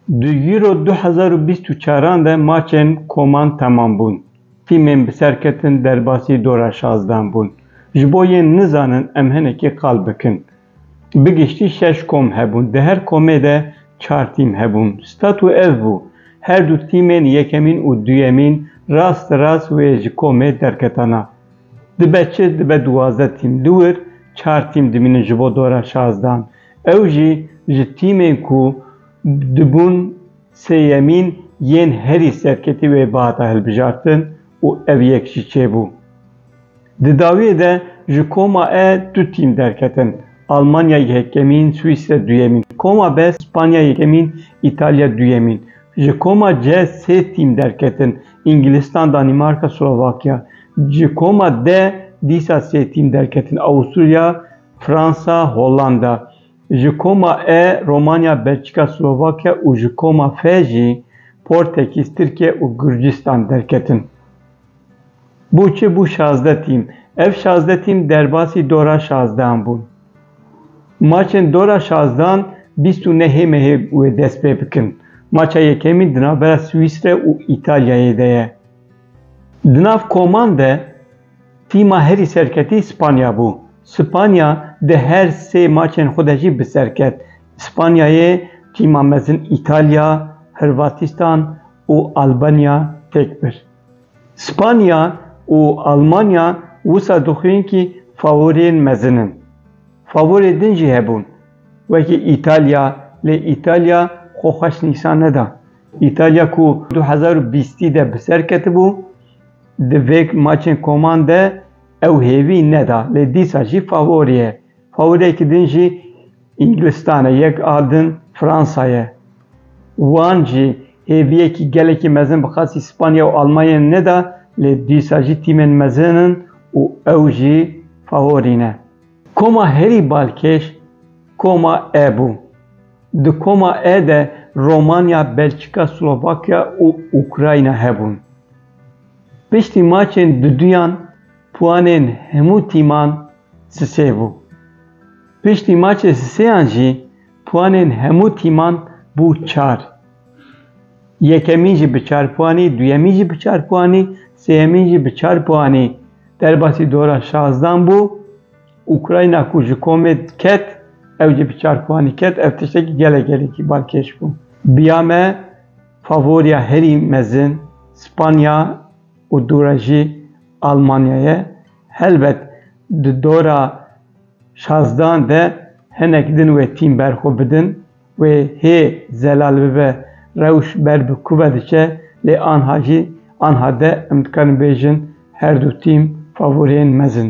Di Euro du hezar û bîst û çaran de maçên koman temam bûn. Tîmên bi ser ketin derbasî dora şazdan bûn. Ji bo yên nizanin em hinekî qal bikin. Bi giştî şeş kom hebûn. Di her komê de çar tîm hebûn. Statu ev bû, her du tîmên yekemîn û duyemîn rast rast wê ji komê derketana. Dibe çi? Dibe duwazdeh tîm li wir, çar tîm dimînin ji bo dora şazdehan. Ew jî ji tîmên ku dibûn sêyemîn yên herî serketî wê bihata hilbijartin û ev yek jî çêbû. Di dawiyê de ji koma E du tîm derketin, Almanya yekemîn, Swîsre duyemîn. Koma B, Spanya yekemîn, Îtalya duyemîn. Ji koma C sê tîm derketin, Îngilîstan, Danîmarka, Slovakya ji koma de dîsa sê tîm derketin, Awusturya, Fransa, Hollanda ji koma E, Romanya, Belçîka, Slovakya û ji koma F jî Portekîz, Tirkiye û Gurcistan derketin. Bû çi bû şazdeh tîm. Ev şazdeh tîm derbasî dora şazdehan bûn. Maçên dora şazdan bîst û nehê mehê wê dest pê bikin. Maça yekemîn di navbera Swîsre û Îtalyayê de ye. Di nav koman de tîma herî serketî Spanya bû. Spanya di her sê maçên xwe de jî bi ser ket. Spanyayê tîma mezin Îtalya, Hirvatîstan û Albanya têk bir. Spanya û Almanya wisa dixwîn kî favoriyên mezin in. Favorê din jî hebûn. Wekî Îtalya, lê Îtalya xwe xweş nîşan neda. Îtalya ku du hezar û bîstî de bi ser ketibû, di vê maçên koman de ew hêvî neda, lê dîsa jî favori ye. Favoriyekî din jî Îngilistanê yek a din Fransa ye. Wan jî hêviyekî gelekî mezin bi qasî Spanya û Almanyayê neda lê dîsa jî tîmên mezin in û ew jî faworî ne. Koma herî balkêş Koma E bû. Di Koma E de Romanya, Belçîka, Slovakya û Ukrayna hebûn. Piştî maçên duduyan puanên hemû tîman sisê bû. Piştî maçê sêyan jî puanên hemû tîman bû çar. Yekemîn jî bi çar puanî, duyemîn jî bi çar puanî, sêyemîn jî bi çar puanî derbasî dora şazdan bû. Ukrayna ku ji komê ket, ew jî bi çar puanî ket. Ev tiştekî gelek gelekî balkêş bû. Biya me favoriya herî mezin Spanya û dû re jî Almanya ye. Helbet di dora Şazdan de hinek din wê tîm berxwe bidin, wê hê zelal bibe, rewş ber bi kuve diçe, lê anha jî anha de em dikarin bêjin her du tîm favoriyên mezin.